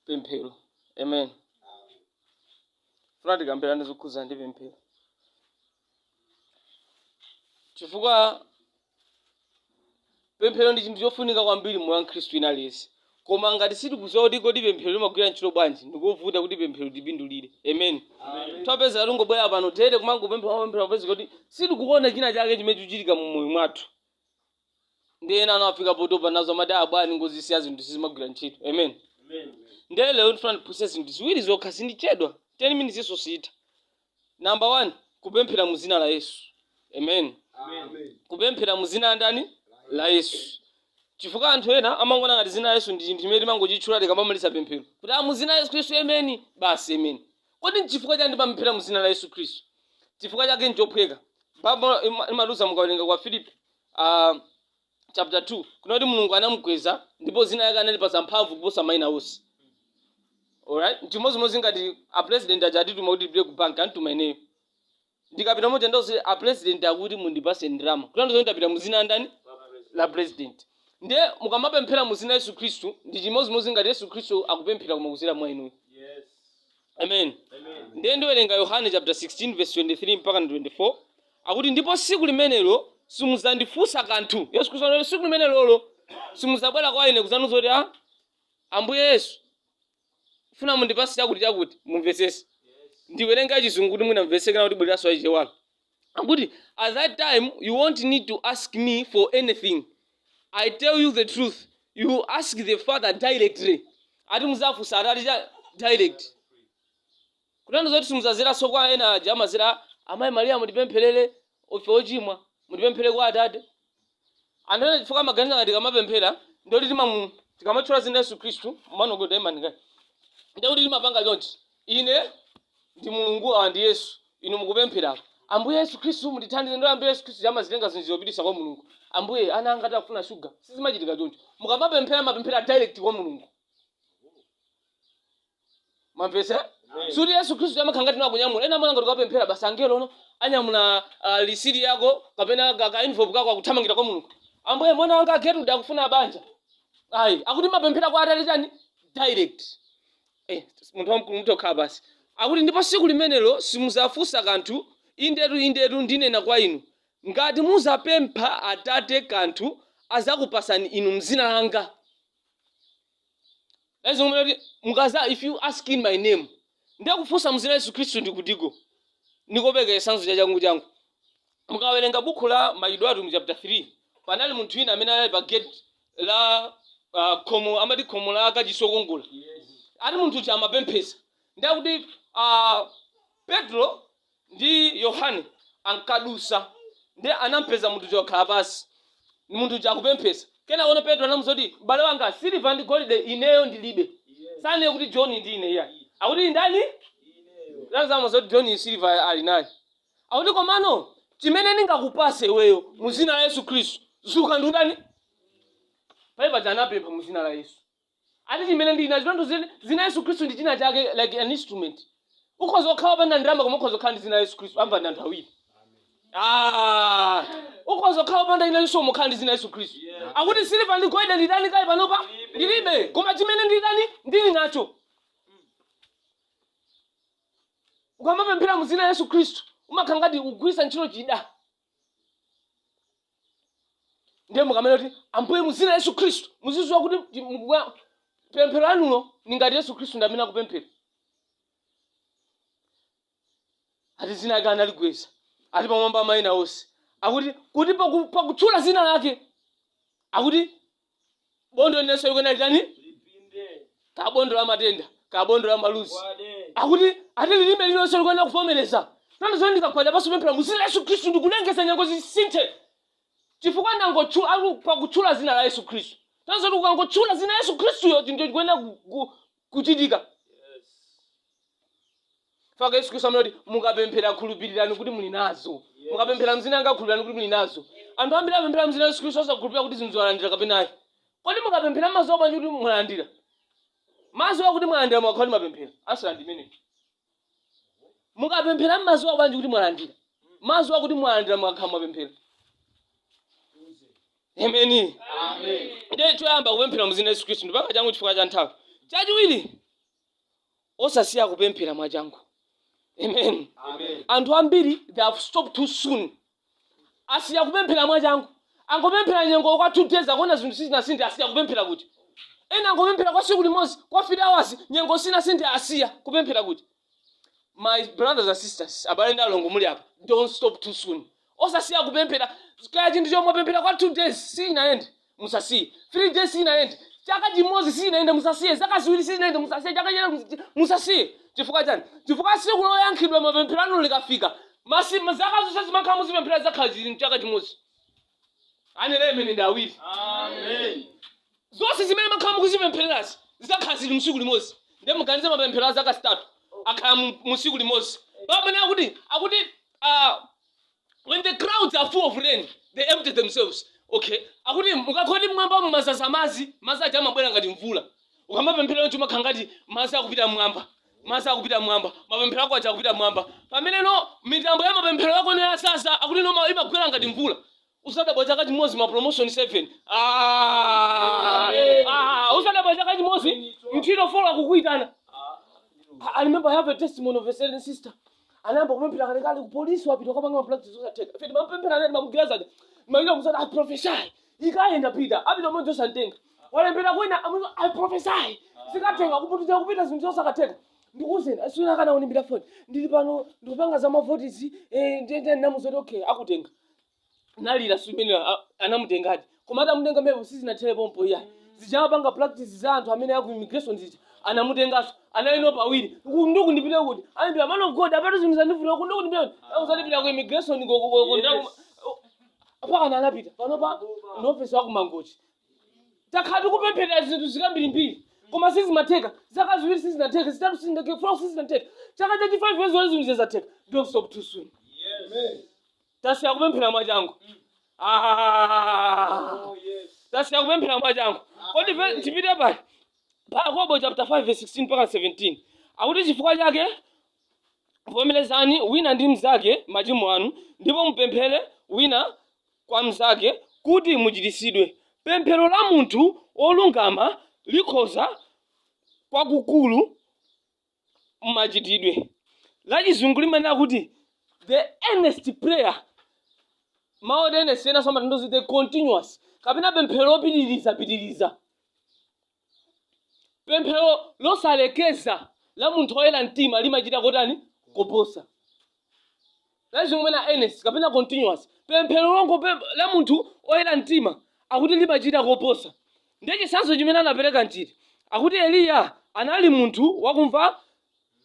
pemphero amen funa tikambirane zokhudzana ndi pemphero chifukwa pemphero ndi chinthu chofunika kwambiri mmoyo wa mkhristu wina aliyense koma ngati sitikudziwa kuti kodi pemphero limagwira ntchito bwanji ndikovuta kuti pemphero tipindulire amen tipeza tingobwera pano tere kumangopemphera kupemphera kupeza kuti sitikuona china chake chimene chikuchitika mu moyo mwathu ndiye ena anafika potopa nazo amati abwani ngozi siya zinthu sizimagwira ntchito amen ndiye lero ndifuna ndiphunzitse zinthu ziwiri zokha sindichedwa 10 minutes iyo siyitha namba 1 kupemphera mu dzina la yesu amen kupemphera mu dzina la ndani la yesu chifukwa anthu ena amangoona ngati dzina la yesu ndi chinthu chimene timangochitchula tikamamaliza pemphero kuti a mu dzina la yesu khristu ameni basi ameni kodi nchifukwa chiyani timapemphera mu dzina la yesu khristu chifukwa chake nchophweka baibulo imatiuza mukawerenga kwa filipi a chapter 2 kunena kuti mulungu anamukweza ndipo zina lake analipasa mphamvu kuposa maina onse alright nchimozimozi ngati a president aja atatituma kuti tipite ku bank antituma ineyo ndikapita moja ndose a president akuti mundipase ndrama kutanthauza kuti ndapita muzina la ndani la president ndiye mukamapemphera muzina yesu khristu ndi chimozimozi ngati yesu khristu akupemphera koma kuzira mwa inuyo amen ndiye ndiwerenga yohane chapter 16 verse 23 mpaka 24 akuti ndipo siku limenelo simudzandifunsa kanthu yesu khristu anati siku limenelolo simudzabwera kwa ine kudzandiuza kuti a ambuye yesu funa mundipase chakuti chakuti mumvetsese ndiwerenga chizungu kuti mwina mvetseke ndikubwereranso wachichewayo akuti at that time you won't need to ask me for anything i tell you the truth you ask the father directly ati muzafunsa atate direct kutanthauza zoti simuzaziranso kwa ena aja amazira amayi mariya mutipempherere ife ochimwa mutipemphere kwa atate Anthu ena chifukwa amaganiza ngati tikamapemphera ndiye kuti timamu tikamatchula dzina la Yesu Khristu, man of God taimani kaye, ndiye kuti timapanga chonchi, ine ndi Mulungu, awa ndi Yesu, inu mukupemphera apa, Ambuye Yesu Khristu mutithandize, ndiye Ambuye Yesu Khristu uja amazitenga zinthu zija kupititsa kwa Mulungu, Ambuye ana anga akuti akufuna shuga, sizimachitika choncho. Mukamapemphera mumapemphera direct kwa Mulungu. mwamvetsa sikuti yesu khristu amakhala ngati no akunyamula ena amaona ngati ukapemphera basi angelo no anyamula uh, lisiti yako kapena ka- ka envelope kako akuthamangira kwa mulungu ambuye mwana wanga a getrude akufuna banja ayi akuti mumapemphera kwa atali chani direct eh, munthu wamkulu muthakhala basi akuti ndipo siku limenelo simuzafunsa kanthu indetu indetu ndinena kwa inu ngati muzapempha atate kanthu azakupasani inu mzina langa Lezi ngomwe kuti mukaza if you ask in my name. Ndiye kufunsa mzina la Yesu Kristu ndi kutiko. Ndikupereka chisanzo cha changu changu. Mukawerenga buku la Machitidwe a Atumwi chapter 3, panali munthu wina amene anali pa gate la uh, khomo amati khomo la kachisi lokongola. Yes. Ati munthu uja amapemphesa. Ndiye kuti uh, Petro ndi Yohane ankadusa, ndiye anampeza munthu uja wakhala pansi, munthu uja akupemphesa. Kenakono Petro anamuza kuti, M'bale wanga, siliva ndi golide ineyo ndilibe. Sananene kuti John ndi ine iyayi. Akuti ndani? Tanthauzo zoti John-yu siliva ali naye. Akuti komano, chimene ndingakupase iweyo, mu zina la Yesu Kristu, zuka ndi kutani? Pajapaja anapempha mu zina la Yesu. ati chimene ndili nacho tanthauzo zina yesu khristu ndi china chake like an instrument ukhoza kukhala opanda ndalama koma ukhoza kukhala ndi zina yesu khristu amvawo ndi anthu awiri Ah, ukhoza kukhala opanda zina koma kukhala ndi zina yesu khristu akuti siliva ndi golide nditani kaye panopa ndilibe koma chimene nditani ndili nacho ukamapemphera mu zina yesu khristu umakhala ngati ukugwisa ntchito chida ndiye mukamanena kuti ambuye muzina yesu khristu muziziwa kuti ndi- mukubwa- pemphero lanulo ndi ngati yesu khristu ndi amene akupemphera ati zina lake analikweza ati pamwamba pa mayina onse akuti kuti paku- pakutchula zina lake akuti bondo lililonse likuyenera litani ka bondo la matenda ka bondo la maluzi akuti ati lilime lililonse likuyenera kuvomereza tanthauzo ndikagwada pansi kupemphera mu dzina la yesu khristu ndikulengeza nyengo zisinthe chifukwa ndangotchula ali pakutchula dzina la yesu khristu tanthauzo loti ukangotchula dzina la yesu khristuyo chinthu chikuyenera ku- ku- kuchitika. Chifukwa Yesu Kristu amanena kuti mukapemphera khulupirirani kuti muli nazo. Mukapemphera mzina anga khulupirirani kuti muli nazo. Anthu ambiri amapemphera mzina Yesu Kristu osakhulupirira kuti zinthuzi alandira kapena ayi. Kodi mukapemphera mmaziwa bwanji kuti mwalandira? Mmaziwa kuti mwalandira mukakhala mwapemphera. Ansala ndi imeneyo. mukapemphera mmaziwa bwanji kuti mwalandira mmaziwa kuti mwalandira mukakhala mwapemphera ameni nde choyamba kupemphera muzina yesu khristu ndipanga changu chifukwa cha nthawi chachiwiri osasiya kupemphera mwachangu amen anthu ambiri they have stopped too soon asiya kupemphera mwachangu angopemphera nyengo kwa 2 days akuona zinthu sizinasinthe asiya kupemphera kuti ena angopemphera kwa siku limodzi kwa 3 hours nyengo sinasinthe asiya kupemphera koma my brothers and sisters abale ndi alongo muli apa don't stop too soon osasiya kupemphera kaya chinthu chomwe mwapemphera kwa 2 days sinayende musasiye 3 days sizinayende chaka chimodzi sizinayende musasiye zaka ziwiri sizinayende musasiye chaka china musi- musasiye chifukwa chani chifukwa tsiku loyankhidwa mapemphero anu likafika masi zaka zonse zimene makhala mukuzipempherera zizakhala zili mchaka chimodzi anene amen ndi awiri zonse zimene makhala mukuzipemphererazi zizakhala zili msiku limodzi nde muganize mapemphero a zaka zitatu akhala mu- musiku limodzi pamene akuti akuti ah, When the clouds are full of rain, they empty themselves. Okay. Akuti mukakhala kuti mmwamba mwazaza madzi, madzi aja amabwera ngati mvula. Ukamapemphera choncho umakhala ngati madzi akupita mmwamba. Madzi akupita mmwamba. Mapemphero ako aja akupita mmwamba. Pamene no mitambo ya mapemphero ako ija yazaza, akuti no ma- imagwera ngati mvula. Uzadabwa chaka chimodzi ma promotion 7. Ah! Ah, uzadabwa chaka chimodzi nchito 4 akukuitana. I I remember I have a testimony of a certain sister. anayamba kupemphera kalekale kupolisi wapita kukapanga mapractice zosatheka ife timapemphera naye timamugwiriza amalira kusana i prophesy ikayenda pita apita mmodzi osamtenga walembera kwina amuti i prophesy zikatheka kupita kupita zinthu zosakatheka ndikuuzeni tsiku lina anandiimbira foni ndili pano ndikupanga za mavotizi ndiye ndinamuuza kuti okay akutenga analira mmene anamutengadi koma atamutenga mepo sizinathere pompo iyayi zijapanga practice za anthu amene aku immigration zija anamutenganso analino pawiri ndiye ndipite kuti anaimba man of god apatu zinthu zandivuta kodi ndipite kuti akuti uzandipita ku immigration ko- ko- ko- ko- ndaku- mpaka anapita panopa ndi officer wa ku mangochi takhala tikupemphera zinthu zikambirimbiri koma sizimatheka zaka ziwiri sizinatheka zitatu sizinatheka four sizinatheka chaka chachi five years wale zinthu zizatheka don't stop too soon tasiya kupemphera mwachangu Ah. Oh, yes. tasiya kupemphera mwachangu kodi ve- Amen. tipite pa yakobo chapter 5 verse 16 mpaka 17 akuti chifukwa chake vomerezani wina ndi mnzake machimo anu ndipo mupemphere wina kwa mnzake kuti muchiritsidwe pemphero la munthu wolungama likhoza kwakukulu Mmachitidwe, lachizungu limanena kuti the earnest prayer, mawu oti earnest enanso amatanthauza the continuous kapena pemphero lopitirizapitiriza, pemphero losalekeza la munthu woyera mtima limachita kotani? Koposa. Lachizungu limanena earnest kapena earnest kapena continuous. Pemphero longopempha la munthu oyera mtima akuti limachita koposa. Ndiye chitsanzo chimene anapereka nchiti? Akuti Eliya anali munthu wakumva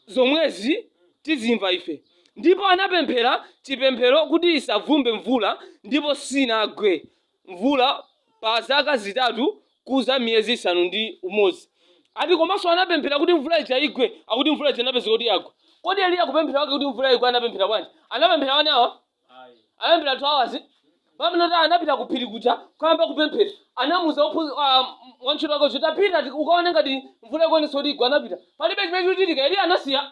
zomwezi tizimva ife. Ndipo anapemphera chipemphero kuti isavumbe mvula ndipo sinagwe. mvula pa zaka zitatu kuza miyezi isanu ndi umodzi ati komanso anapemphera kuti mvula ija igwe akuti mvula ija inapezeka kuti yagwa kodi eliya kupemphera kwake kuti mvula igwe anapemphera bwanji anapemphera one hour anapemphera two hours pamene anapita ku phiri kuja kuyamba kupemphera anamuza ophu- ah, wantchito wake kuti tapita ti- ukaone ngati mvula ikuonesa kuti igwa anapita palibe chimene chikuchitika eliya anasiya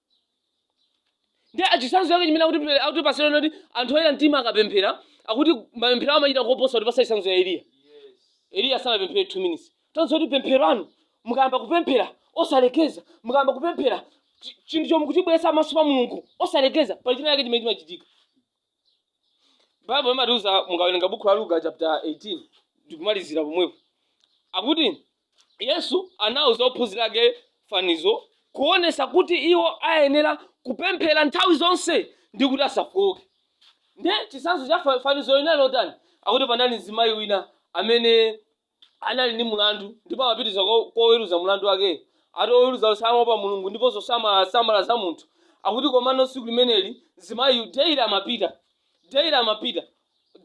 ndiye chitsanzo chake chimene akuti akutipasira noti anthu oyera mtima akapemphera akuti mapemphero awo amachita koposa kutipasa chitsanzo ya eliya eliya sanapemphere 2 minutes tiwonenso kuti pemphero anu mukayamba kupemphera osalekeza mukayamba kupemphera chi- chinthu chomwe mukuchibweretsa pamaso pa mulungu osalekeza pali china chake chimene chimachitika baibulo imatiuza mukawerenga buku la luka chapter 18 ndikumalizira pomwepo akuti yesu anauza ophunzira ake fanizo kuonesa kuti iwo ayenera kupemphera nthawi zonse ndi kuti asafowoke nde chisanzo cha fa- fanizo linali lotani akuti panali mzimayi wina amene anali ndi mlandu ndipo amapitiriza kwa kwa oweruza mlandu wakeyo. Ati oweruzawo samaopa Mulungu ndiponso samasamala za munthu. Akuti komano tsiku limeneli mzimayiyu daily amapita, daily amapita,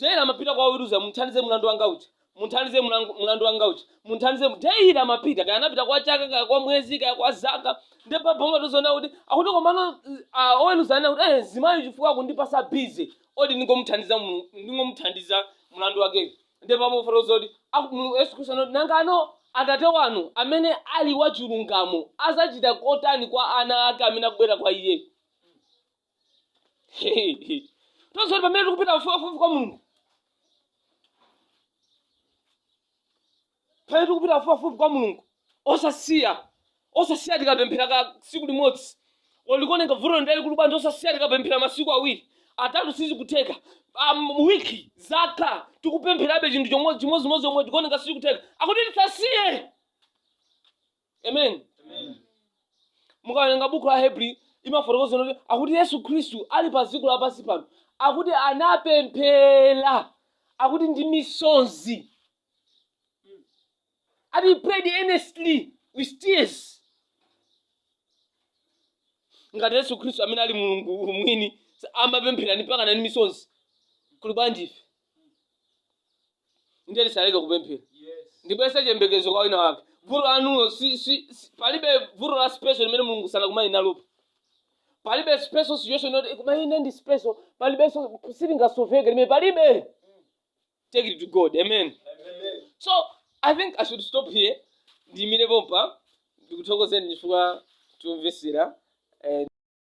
daily amapita kwa oweruza, mundithandize mlandu wanga uja, mundithandize mlangu- mlandu wanga uja, mundithandize, mu-" daily amapita, kaya anapita kwa chaka, kaya kwa mwezi, kaya kwa zaka, ndi Baibulo imatiuza kuti akuti komano uh, oweruza ananena kuti eh, mzimayi chifukwa akundipasa busy, odi ndingomuthandiza, mu- ndingomuthandiza mlandu wakeyo. nde pamene ikufotokoza kuti aku- Mulungu- yesu khristu anati nangano atate wanu amene ali wachilungamo azachita kotani kwa ana ake amene akubwera kwa iye tonse kuti pamene tikupita pafupipafupi kwa mulungu pamene tikupita pafupipafupi kwa mulungu osasiya osasiya tikapemphera ka tsiku limodzi or likuoneka vuto ndi lalikulu bwanji osasiya tikapemphera masiku awiri atatu sizikutheka um, wiki zaka tikupempherabe chinthu chomwe- chimodzimodzi chomwe chikuoneka sizikutheka akuti tisasiye amen mukawerenga buku la hebrews imafotokoza kuti akuti yesu khristu ali pa dziko lapansi pano akuti anapemphera akuti ndi misonzi ati he prayed earnestly with tears. ngati yesu khristu amene ali mulungu mwini amapemphera mpakana ndi misonzi kuli bwanji ife ndiye tisaleke kupemphera Yes. ndibwezese chiyembekezo kwa wina wake vuto lanulo si, si, si, palibe vuto la special limene mulungu sanakumane nalopo palibe special situation yoti koma ine ndi special palibenso silingasoveke limene palibe take it to god amen so i think i should stop here ndiyimire pompa ndikuthokozeni chifukwa chomvesera